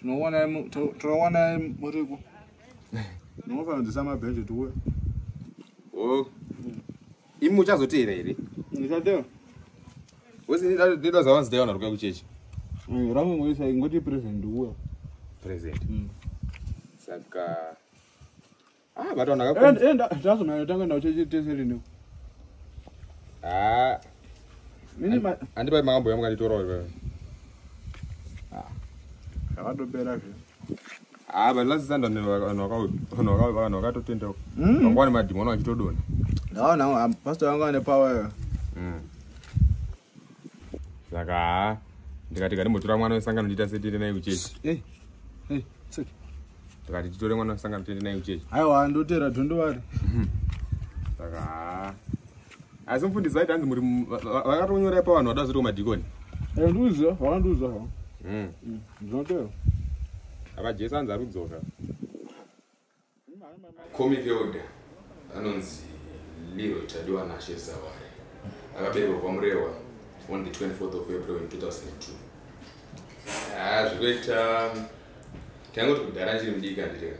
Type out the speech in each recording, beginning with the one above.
Tinowana tinowana muriku. Ndinofanira kudzisa mabhenji tuwe. Oh. Imi uchazoteera here? Ndichateera. Wese ndida zawanzi dai wanaruka kuchechi. Mm, Ramu ngoisa ingoti present uwe. Present. Mm. Saka Ah, but on akaku. And and that's my tanga na chechi teseri no. Ah. Mini ma andi bai makambo yamu kani toro wewe. Ah. Kawado bera vyo. Ah, but last Sunday no no ka no ka no ka to tenda. Mm. Ngwani madimona achitodona. No, no, I'm pastor wangu ane power. Mm. saka haa ndikati kandimbotora mwana wesangano ndiita setiende naye kuchechi eh, eh, ndikati titore mwana wesangano tiende naye kuchechi aiwa ndotera dhondovari saka haa asi mfundisi vaiti hanzi muri vakatonyorai pavanhu vada zoti kumadhikoni eh, ndiuziva vakandiuza ha hmm. hmm, ndinotera apa jesu anzi ari kudzoka Comic Elder anonzi Leroy Tadiwa Nashe Zawari akaberekwa kwaMurewa on the 24th of April in 2002 ah, zvekuita taingoti kudhara chiri mudiki andireka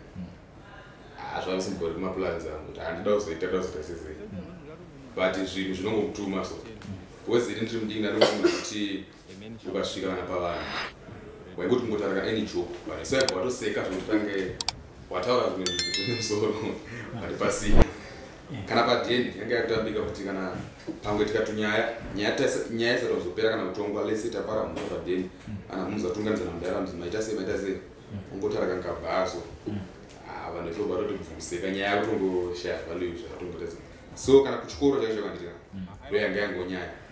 ah, zvakusimbori kumaplans angu kuti handida kuzoita da kuzoita sezei but zvinhu zvinongokutuma so bhozi iri ndiri mudiki ndanokuti ukasvika vana pavanhu waingoti kungotarika any joke but so yabva watoseka zvekuti tange wataura zvimwe zvinhu zvine musoro vari pasina kana padeni yange yakutambika kuti kana pamwe tikatunyaya nyaya isati kuzopera kana kutongwa lese tapara mhuri padeni kana munhu zatunganidza namudara mzi maita sei maita sei ungotarika nkabhaso ah, vanhu vechobva toti bvuseka nyaya yakutongoshaya value zvakatongotaza so kana kuchikoro chaizvo vandira ndoyanga yangonyaya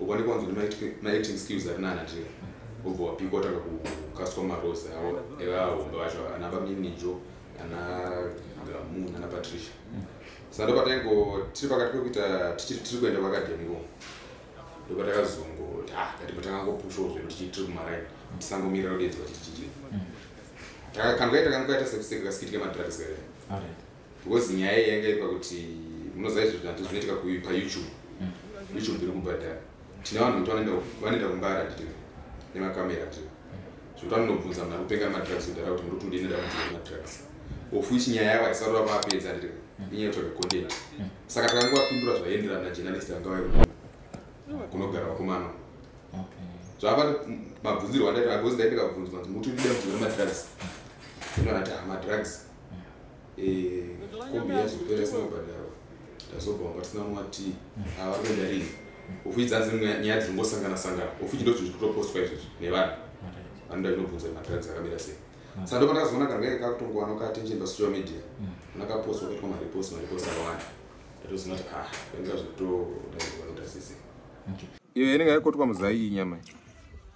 uko ndiko wanzwa maacting skills ari nana nje ubva wapika watanga kukaswa marose awo evahombe vacho ana baminijo ana gamu nana patricia saka ndo pataingo tiri pakati pekuita tiri kuenda kuakadhemi ko ndo patakazongoti ah katimbo takangopushawo zvedu tichii tiri kumaraini tisangomirira kudedzwa tichichii mm. takangoita kangoita sekuseka kasikitika madrugs kae because nyaya iyi yanga iri pakuti munoziva izvo zvinatu zvinoitika payoutube mm. youtube iri kubhadhara tine vanhu kuti vanoenda kumbara titi nemakamera ti zvekuti vanonobvunza muna kupenga nemadrugs kudhara kuti muri kutundini ndakubvunza nemadrugs of which nyaya yavo haisati vapapedza titi mm. inyaya yotsvaga content mm. saka takanga vapindura zvaienderana najournalist vanga vai kunogara vakomana zvava mabvunzirwa ndaita because ndaitaka bvunzwa kuti mutundida mubvunza nemadrugs inoanati hamadrugs eh, kombi yazopera isina kubhadharwa tazobva wanga tisina mwati avari kuenda rini ofuti dzanzi nyaya dzingosangana sangana ofuti ndo zvinhu zvitopostwa izvozvi nevanhu vanoda kunobvunza kuti madrugs akamira sei mm. saka ndopandakazoona kangenge kakutongowana katension pasocial media mm. anakapostwa kuitwa marepost marepost akawanda ndatozoona kuti ah kainga zvitodaivanotasise iyo inenge yaikotwa muzai iyi nyama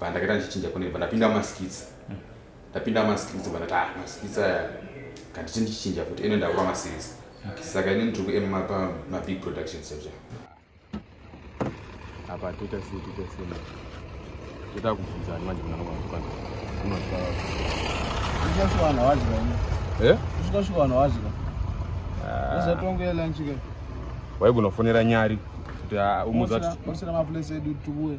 pandakaita ndichichinja kune pandapinda maskits mm. ndapinda maskits pandati ah maskits aya kanditi ndichichinja futi ene ndakuva maseries saka ini ndiri kuema pamabig productions chacho apa toita sei toita sei toita kubvunza ani manje munaaaaana waigona kufonera nyari kuti ah, umuzasira maplace edu tuwe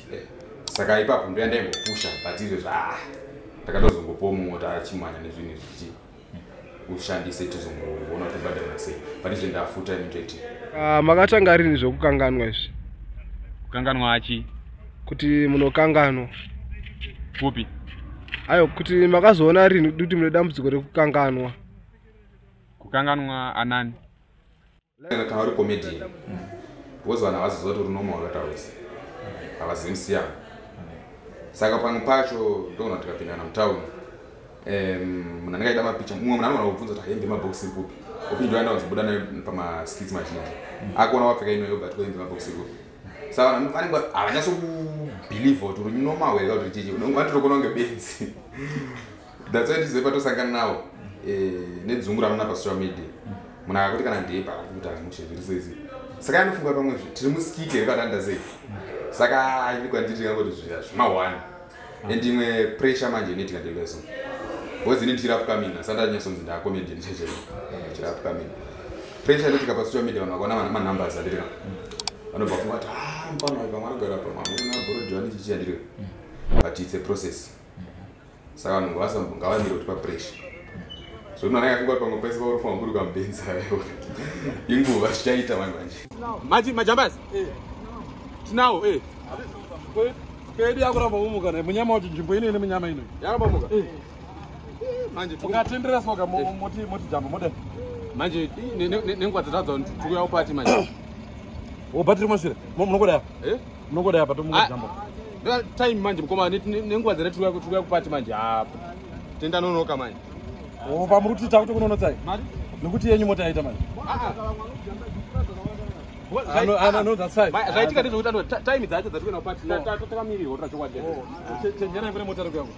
saka ipapo ndoya ndaingopusha but izvo zva ndakatozongopowo mumwe kuti achimwanya nezvinhu zvichi ushandise tizongoona kuti bhadhara sei but izvo ndafuta imitete ah, makatanga rini zvekukanganwa izvi kukanganwa achi kuti munokanganwa kupi ayo kuti makazoona rini kuti mune dambudziko rekukanganwa kukanganwa anani Kana kana uri comedian. Because vanhu havaziziva kuti uri normal wakataurisa. Havazivi musiyana. Saka pamwe pacho ndogona kuti tikapindana mutown. Um, munhu anenge aida mapicha mumwe munhu anogona kubvunza kuti hembe mabox iri kupi okuti ndoenda kunzobuda nayo pamaskits mazhinji akuona wapfeka inoyo but kwembe mabox iri kupi saka vanhu vanenge havanyatso kubhilivha kuti uri normal here ka kuti richii ungatotokona kunge benzi That's why tizive patosangana nawo eh, nedzungu ramuona pasocial media munhu akakuti kana ndeye pakakuti amushe zviri seizi saka anofunga pamwe zve tiri musikike here patanda sei saka aini kwandiri ndingangoti zviya zvimahwani and imwe pressure manje inoitika ndeiveso bcause ini ndichirapwukamini asi andanyasonzi ndaakomedi ndichechero ndichirapwukamini pressure inoitika pasocial media vanhu vakaona manumbers adirika vanobva funga kuti ah, mfana uyu pamwe anogara pamwe anogona bhorodhani chichiyandirika but it's a process saka vanhu ngavamire kuti papresha zvonoana yafunga kuti pamwe pese vauri fanwa kuri kambenzi ayo inguva zvichaita vanhu vanje mati majambas eh. tinawo e eh. kwedu yakuramba umuka na munyama kuti nzvimbo ino ine munyama ino yakuramba muka eh. manje ungatenderera soka moti moti jamba mode manje nenguva dzatadza kuti tikuyawo pati manje wobatiri mashure munokodaya Unongoda apa tomuka jambo. Ah, time manje mkoma nenguva dzere tikuya tikuya kupati manje apa. Ah, tenda nonoka manje. Oh, pamuri kuti takuti kunono tsai. Mari. Nokuti yenyu mota yaita manje. Ah. I know, I know that side. Zvaitika ndizvo kuti time dzacho dzatikuenda kupati. Tatamirirwa tira chokwadi. Chenjerai kune mota rekuya kuti.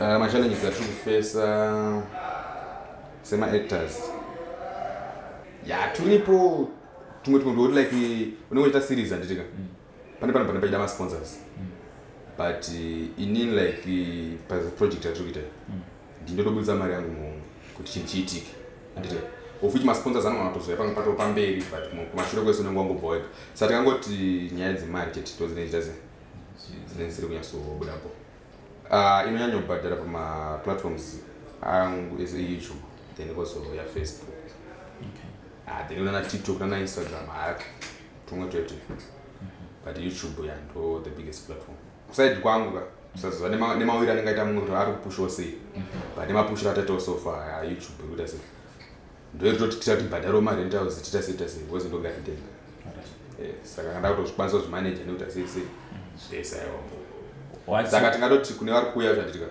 Uh, machallenges atiri kufesa semaactors ya yeah, turipo tumwe tumwe ndoti like unenge uchiita series handitika mm. pane pano pane pachida masponsors mm. but uh, inini like uh, paproject yatiri kuita mm. ndindotoburitsa mari yangu muhomwe kuti chinhu chiitike handitika of which masponsors anogona kutozouya pamwe pato pamberi but kumashure kwese unenge wangobva wega sa tikangoti nyaya dzemari chete tozine chita se dzine dzisiri kunyatsobudapo Uh, inonyanya kubhadhara pamaplatforms angu ese youtube then also yafacebook okay. uh, ah, then unana tiktok nana instagram haa tumwe twete but youtube yando the biggest platform kusaidi kwangu ka usaziva nemawiri anenge aita mumwe kuti ari kupushawo sei but nemapushiro ataitawo sofa youtube ikuita sei ndoitoti tita tibhadharo marentals tita sei tita sei because ndongaitenga eh, saka kanda kutozvikwanisa kuzvimanaja nekuti asei sei zvese aiwa saka tingatoti kune vari kuuya zvandirikaa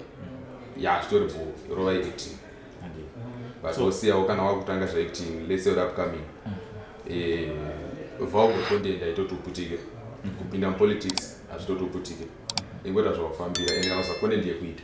ya zvitori bho rova acting but wosiyawo kana wakutanga zvaacting lese uri upcoming eh, vaugokondenda itoti uputike kupinda mupolitics hazvitoti uputike ingoita zvawafambira ende kana usakondendi yekuita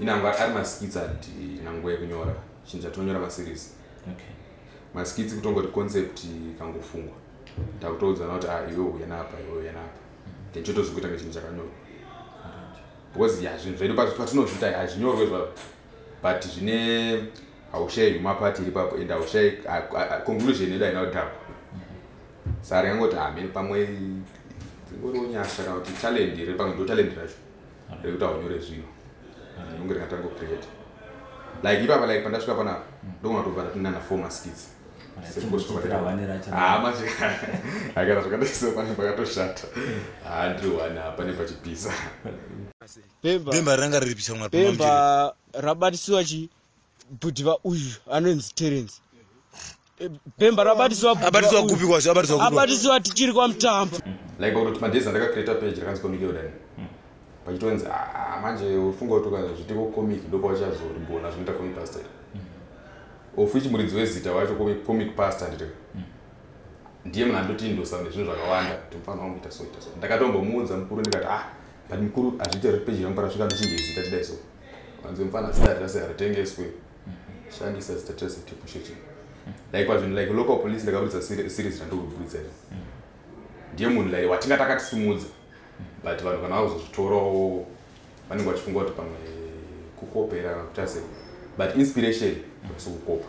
inangwe ari maskits ati nangwe yekunyora chinhu chatonyora maseries okay. maskits kutongoti concept kangofungwa takutoudzana kuti ah, iwe uya napa iwe uya napa then chotozokuita ngechinhu chakanyorwa because ya zvinhu zvedu patinozviita hazvinyorwe zvavo but zvine haushayi huma pati iri papo and haushayi conclusion yedu haina kudhakwa mm-hmm. sari yangoti hamene ah, pamwe dzingoriwo nyasha kana kuti talend iri pamwe ndo talend racho Ndiri kuti aunyore zvino. Unge ndingatanga create. Like ipapa like pandasvika panapa ndogona kutobva ndatinda na former skits. Ah, manje akana zvakadaisa pane pakatoshata haa ndiri wani apa nepachipisa bhemba ranga riripisa mwana bhemba rabatiswa chii bhudiva uyu anonzi terence bhemba rabatiswaabatiswa kupi kwazvo abatiswa abatiswa tichiri kwamutambo like kuti madhezi andakacreata page rakanzi comic yodani pachitonzi ah, manje ufunga kuti ukazviti kocomic ndopauchazorigona zvinoita comic pastor of which muridzi wezita wacho comic pastor nditeka ndiye munhu andotindosa nezvinhu zvakawanda kuti mufanira wangu ita so ita so ndakatombomuudza mukuru ndikati ah but mukuru hazviite kuti peji rangu parasvika ndichinje zita chidai so wanzi mfana zita rese haritengeswe shandisa zita rese tipusheti like pazvinhu like local police ndakaburitsa series randikuburitsa iri ndiye munhu like watinga takatisimudza but vanhu kana vazozvitorawo vanenge vachifunga kuti pamwe kukopera kana kutasei but inspiration vasi kukopa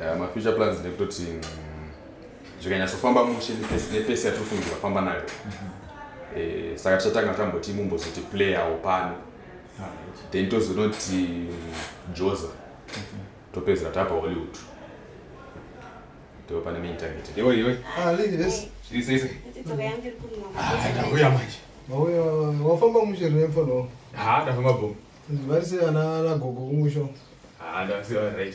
Eh, ma future plans ndekutoti mm, zvikanyatsofamba mushe nepesi yatiri kufungira famba nayo eh, saka tichatanga tamboti mumbozoti playawo pano then tozonoti mm, joza topedzera tapa hollywood ndipo pane main target iwe iwe ah lady this is is ah ndauya manje mauya wafamba mushe remfa no ha ndafamba bom vari se ana ana gogo kumusho ha ndasiwa right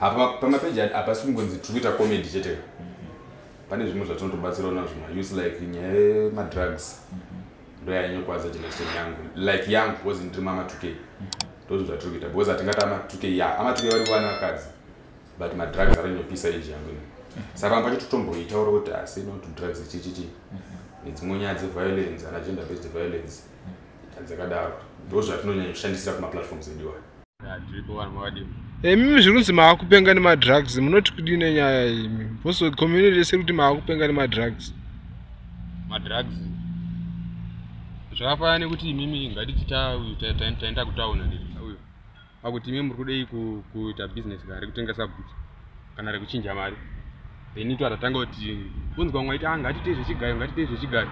apa pamapeji hapasi kungonzi tiri kuita comedy chete mm-hmm. pane zvimwe zvatinotobatsirawo nazvo maus like nyaya yemadrugs mm-hmm. ndoyanyokwaza generation yangu like yangu because ndiri mamatuke mm-hmm. ndozvinhu zvatiri kuita because hatingati amatuke ya amatuke vari kuvana vakadzi but madrugs aranyopisa age yangu ino saka pamwe pacho totomboitaura kuti asi no to drugs chichichi nedzimwe nyaya dzeviolence ana gender based violence dzakadaro ndozvatinonyanya kushandisira kumaplatforms edu aya imimi zviri kunzi maakupenga nemadrugs munoti kudii nenyaya imi bcause community yese kuti maakupenga nemadrugs madrugs zvakafanana nekuti imimi ngatiti taenda kutauna akuti imimi muri kudei kuita business kari kutengesa bhutsa kana rekuchinja mari then ito atatanga kuti unzwa mwaiti a ah, ngatitei zvechigayo ngatitei zvechigayo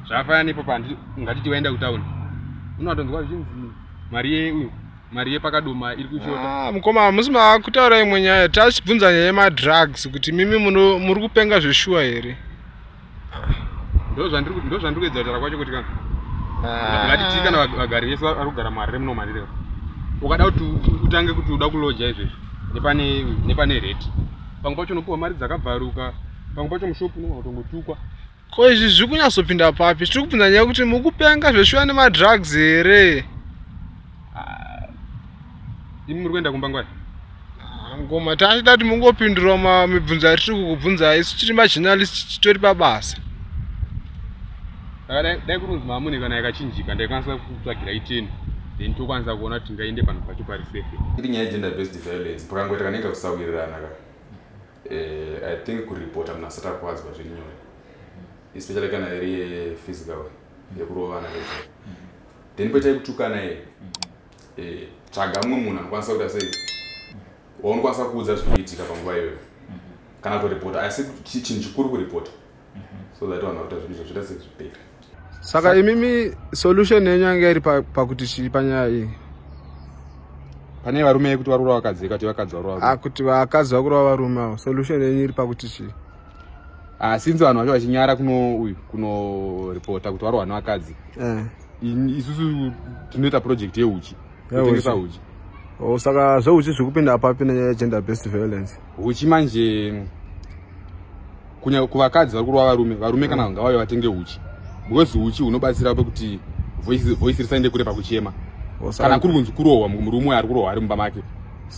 zvafana nepo pandi ngatiti waenda kutauni unowatonzwa zvichinzi mari yeuyu mari yepakadoma iri kushota ah, mukoma hamusi makutaura imwe nyaya tachibvunza nyaya yemadrugs kuti mimi muri kupenga zveshuwa here ndozvandiri ndozvandiri kuedza kutaura kwacho kuti kana Ah. ngati tii kana vag- vagari vese vari kugara muharare muno mandireva ukada kuti u- utange kuti uda kuloja izvezvi nepane nepane rate pamwe pacho unopiwa mari dzakabvaruka pamwe pacho mushopu unogona kutongotukwa ko izvi zviri kunyatsopinda papi tiri kubvunza nyaya yekuti mukupenga zveshuwa nemadrugs here Ah, imi muri kuenda kumba ngwai Ah, ngoma tachida kuti mungopindura ma- mibvunzo yatiri kukubvunza isu tiri majournalist titori pabasa Saka dai- dai kurinzi mamune kana yakachinjika ndaikwanisa kutsvagira iteni then tokwanisa kuona kuti tingaende panhu pacho pari safe iri nyaya yegender based violence pakangoita kanenge kusawirirana ka eh, i think kuripota munhu asati akuwadzwa zviri nyore especially kana iri physical nekurovana nezvai then poitai kutukana iye eh, tsvaga mumwe munhu anokwanisa kuita sei waunokwanisa kuudza zviri kuitika panguva iyoyo kana kutoripota asi chinhu chikuru kuripota so that vanhu vakuita zvinhu izvo zvoita sezviperi saka imimi solution yenyu yanga iri pakuti chii panyaya iyi pane varume yekuti varura vakadzi yekati vakadzi varura ah, kuti vakadzi vakurova varume avo solution yenyu iri pakuti chii Ah, since vanhu vacho vachinyara kuno uyu kuno reporta kuti varohwa nevakadzi eh. isusu tinoita project yeuchi kutengesa uchi oh, saka zveuchi zviri kupinda apapi negender based violence uchi manje kunyaka kuvakadzi vari kurova varume varume kana vanga vave vatenge uchi because uchi hunobatsira pekuti voice risaende kure pakuchema oh, kana kuri kunzi kurohwa murume uyo ari kurohwa ari mumba make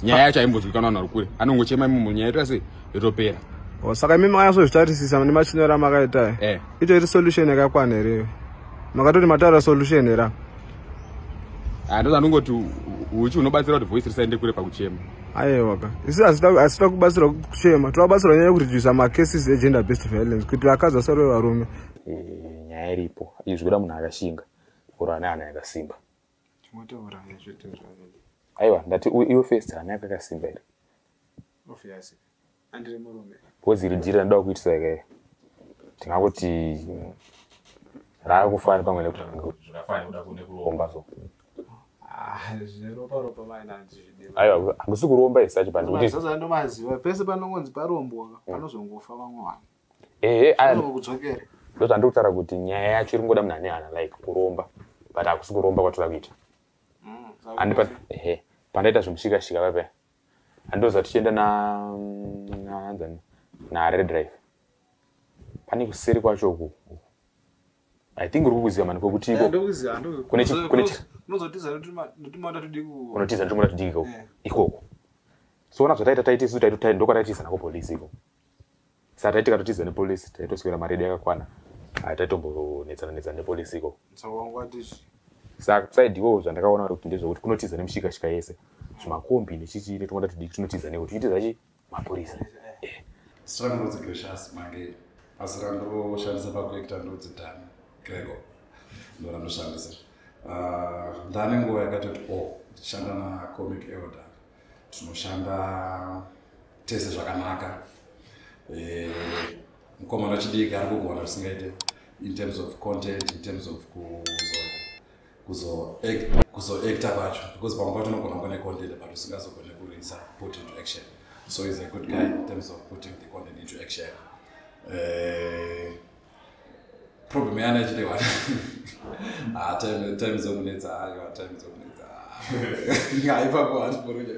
nyaya yacho aimbonzwikanwa vanhu vari kure anongochema imomo nyaya ita sei yotopera oh, saka imi makanyasozvitarisisa nemachinyoro amakaita eh. itori solution yakakwana here makatoti mataura solution here ah, ndoda ndongoti uchi unobatsira kuti voice risaende kure pakuchema aiwaka isi hasita kubatsirwa kuchema tinobatsirwa nyaya yekuredusa macases egender based violence kuti vakadzi vasarove varume eh, nyaya iripo izvi kuda munhu akashinga or ane hana yakasimba aiwa ndati iwe first hana yakakasimba here obviously andiri murume because iri dhiri randida kuitisa ke ndingangoti raakufana pamwe nekutoafanekudakuromba so aiwa hakusi kuromba isi acho pandikutindomaziva pese panongonzi parombwa panozongofa vamwe vanhu ehe kudzokera ndozvandikutaura kuti nyaya yacho iri ngoda munhu ane hana like kuromba but hakusi kuromba kwatoda kuita mm, ehe pandaita zvimushikashika vapea andoziva tichienda naanzani nared drive pane kuseri kwacho uku i think uri kukuziva mani kwekutiiko unotiza ndimoda tudiki ikoko so ona zvataita taitisu ndokwataitiza nako polisi ikoko Saka taiti tikatotiza nepolice taitoswera mari yedu yakakwana. Ah, taitombonetsana netsana nepolice iko. Saka wanga watichi? Saka side iwowo zvandakaona kuti ndezvekuti kunotiza nemushikashika yese. Zvimakombi nechichi netumwe tatudiki tunotiza neko tichitiza chi mapurisa. Eh. Strong ndodzi gracious mange. Asi randoshandisa pakuekita ndodzi dami. Grego. Ndorandoshandisa. Ah, ndane nguva yakatoti o oh, ndichishanda nacomic elder tinoshanda tese zvakanaka eh, mukomana wechidiki ari kugona zvisingaite in terms of content in terms of kuzoacta kwacho because pamwe pacho unogona kuva necontent but usingazogone kurinisa put into action so is a good guy in terms of putting the content into action eh, problem yana ichiri one ah time time zokunetsa hayo ah, time zokunetsa haipapo ah. hatiporeka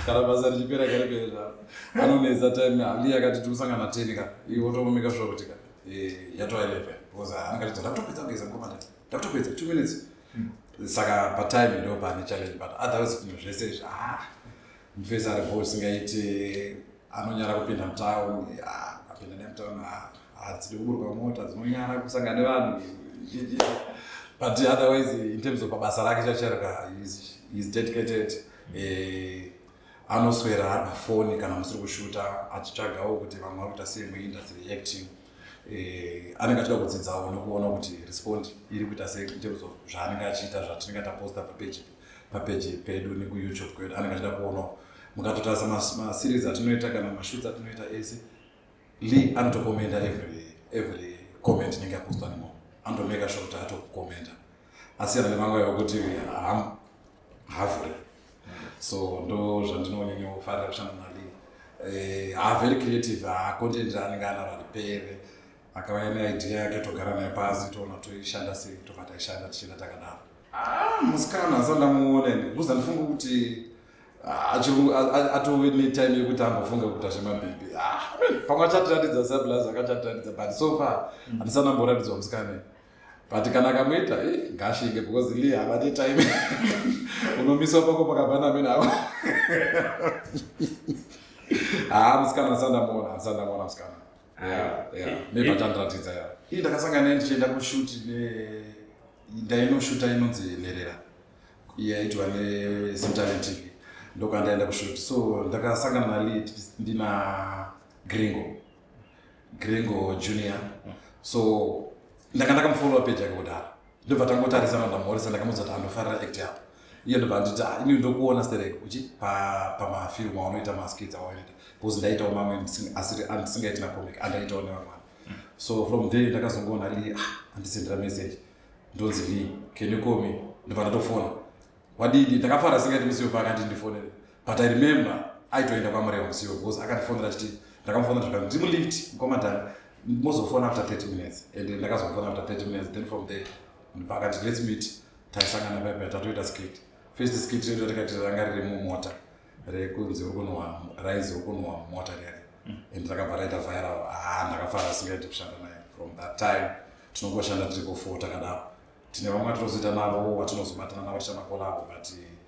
kana basa richipera kare pere zvaro anonetsa time hali yakati tikusangana ten ka iwe otomomeka sure kuti ka eh, yatova eleven because ah, anakatidza ndakutopedza kugeza mukoma nda ndakutopedza two minutes hmm. saka patime ndo pane challenge but otherwise zvese izvi ah mfesi ari bo singaiti anonyara kupinda mutown apinda nemutown hadzidi kuburuka mota dzinonyara kusangana nevanhu but otherwise in terms of pabasa rake chachereka is dedicated eh, anoswera ari pafoni kana musiri kushuta achitsvagawo kuti vamwe vari kuita sei muindustry reacting eh, anenge achida kudzidzawo nekuona kuti respond iri kuita sei in terms of zvaanenge achiita zvatinenge taposta papeji papeji pedu nekuyoutube kwedu anenge achida kuonawo mukatotarisa maseries atinoita kana mashoots atinoita ese lee anotokomenda every every comment inenge yapostwa nemunhu anotomeka sure kuti atokomenda asiyana nemanguva yokuti havhure so ndo zvandinonyonyofarira kushanda nali eh, haaveri creative hacontent anenge anaro aripere akauya neidea yake togara naye pasi toona toishanda sei tobva taishanda tichienda takadaro ah, musikana asati ndamuona ini bcause andifunga kuti ah, atove netime yekuti ambofunga kuita zvemabhibhi ah, pamwe achatiratidza sablaz akachatiratidza but so far mm. andisana mboratidzwa musikana but kana akamuita eh, ngashinge because li hava netime unomiswa pako pakabana mene avo haa musikana asati ndamuona asati ndamuona musikana mebatandiratidza ya ii ndakasangana naye ndichienda kushuti ndainoshuta inonzi nherera yaitwa nesimtalen tv ndokandaenda kushuti so ndakasangana nali ndina gringo gringo junior so ndanga ndakamufollowa peji yake kudhara ndobva tangotarisa manda morisa ndakamudza kuti andofarira act yapo iye ndobva anditi ah, ini ndokuona sterek uchi pamafilm aanoita maskits awaita bcause ndaitawo mamwe andisingaiti nacomic andaitawo nevamwana so from there ndakazongoona li ah, andisendera message ndonzi li can you call me ndobva ndatofona wadidi ndakafara singaiti musiyo paakati ndifonere but i remember aitoenda kwamureva musiwo because akandifonera chiti ndakamufonera zvakati ndimulift mkomadhani mozofona after 30 minutes and ndakazofona after 30 minutes then from there ndipakati let's meet taisangana paipa tatoita skit first skit redu ratikati ranga riri mumota rekunzi urikunowa rainzi urikunowa mumota riari mm. and rakabva raita viral haa ah, ndakafara singaiti kushanda naye from that time tinongoshanda tiri kufota kadaro tine vamwe atinozoita navo watinozobatana navo tichamakolavo but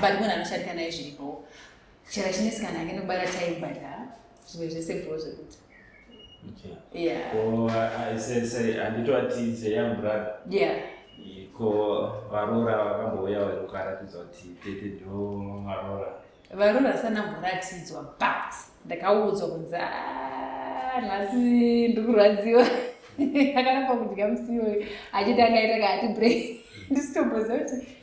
but munhu anoshandika naye zviripo chero chinesikana ake nokubara chaibata zvimwe zvese bro zvekuti anditoatize yambrother ko varora vakambouya varukaratidza kuti tete ndo varora varora sanamboratidzwa but ndakaudzwa kunzi ah, nhasi ndikurwadziwa akaramba kudya musiwo achiti angaita kaati break ndisitomboziva kuti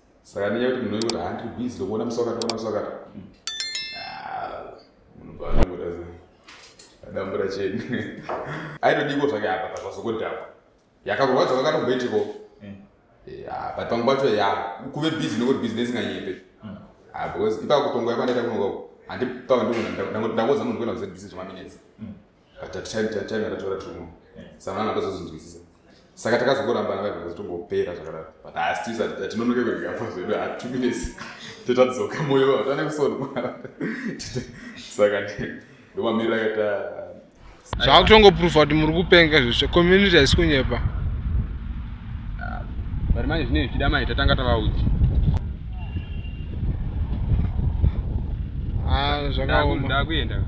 saka ndinya kuti munhu wekuti handiri busy ndokuona musi wakati ona musi wakati munhu paanongoda adambura cheni aitodiko zvake apa pazvazokodhakwa yakakurwadza kwakatomboitiko hmm. eh, ah, but pamwe pacho ya kuve busy nekuti business inganyepe hmm. ah, because ipakutongoya kwandaita kunoka handipava ndikundangoza munhu kuenda kuzebusy zvemaminetsi taina tatora tumwe sangana akazozvinzwisisa saka takazongorambana vaibva zvitongopera zvakadaro but asi tisa tinonoke kwegafa zvedu hatu minutes totadzoka moyo vavo tane kusoni mwana saka ndomamirira kaita zvaakutongoprova kuti muri kupenga zvese community haisi kunyepa ah, but manje zvinei zvichida mai tatanga tavaudzi ah, zvakaoma ndakuenda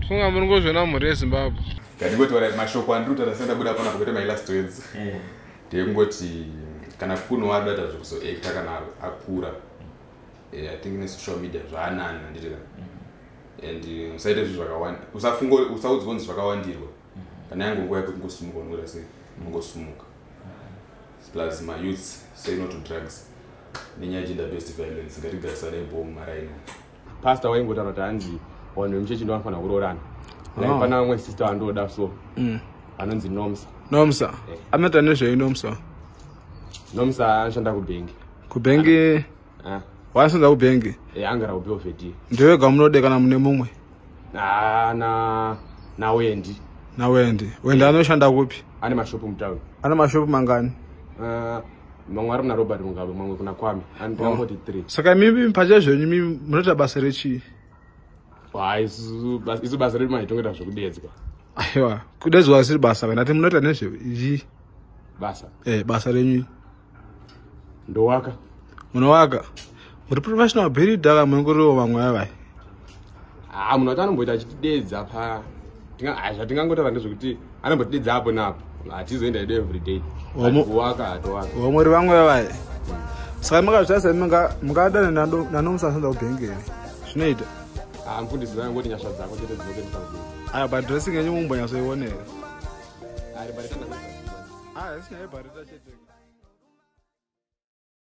funga muri ngozviona mhuri yezimbabwe ndandigotaura mashoko andiri kutaura senda buda pana kuita my last words eh. ndekungoti kana kuno adata zvekuzoacta kana akura eh, i think nesocial media zvaanani handiti ka mm-hmm. and eh, usaite zvinhu zvakawanda usafunga usaudzwa kunzi zvakawandirwa mm-hmm. kana yange nguva yekuti ngosumuka unoita sei ungosumuka mm-hmm. plus mayouths say no to drugs nenyaya gender based violence ngatigarisane bom maraino pastor waingotaura kuti hanzi vanhu vemuchechi ndo vanofanira kuroorana like oh. pana vamwe sister vandoda so mm. anonzi nomsa nomsa eh. anoita nezvei nomsa nomsa anoshanda kubhengi kubhengi eh. waasonza kubhengi eh, angara kubeovedi ndewega munode kana mune mumwe ah, na nawendi nawendi wendi anoshanda kupi ane mashopu mutauni ane mashopu mangani ah. mamwe ari kuna robert mugabe mamwe kuna kwami andiamboti oh. three saka mimi mpacha zvenyu mi munoita basa rechii isu basa redu mai tongeta zvekudedzwa aiwa kudedzwa asiri basa kana ti munoita nezvei basa e basa renyu ndowaka munowaka muri professional builder ka muri ngoriwo vamwe vavai haa ah, munhu wacho anomboita achitidedza pa ah, zvatingangotaura ndezvekuti anombotidedza apo naapo hatizoenda ido everyday waka hatowaka vamwe ri vamwe vavai saka makazvitasa mungadana nanomusasanza kubhengeri zvinoita ah, mfundisi vaya ngoti nyasha dzako chete dzinokuendesa kudii aya padressing yenyu mumbonyatsoionera ari barita chete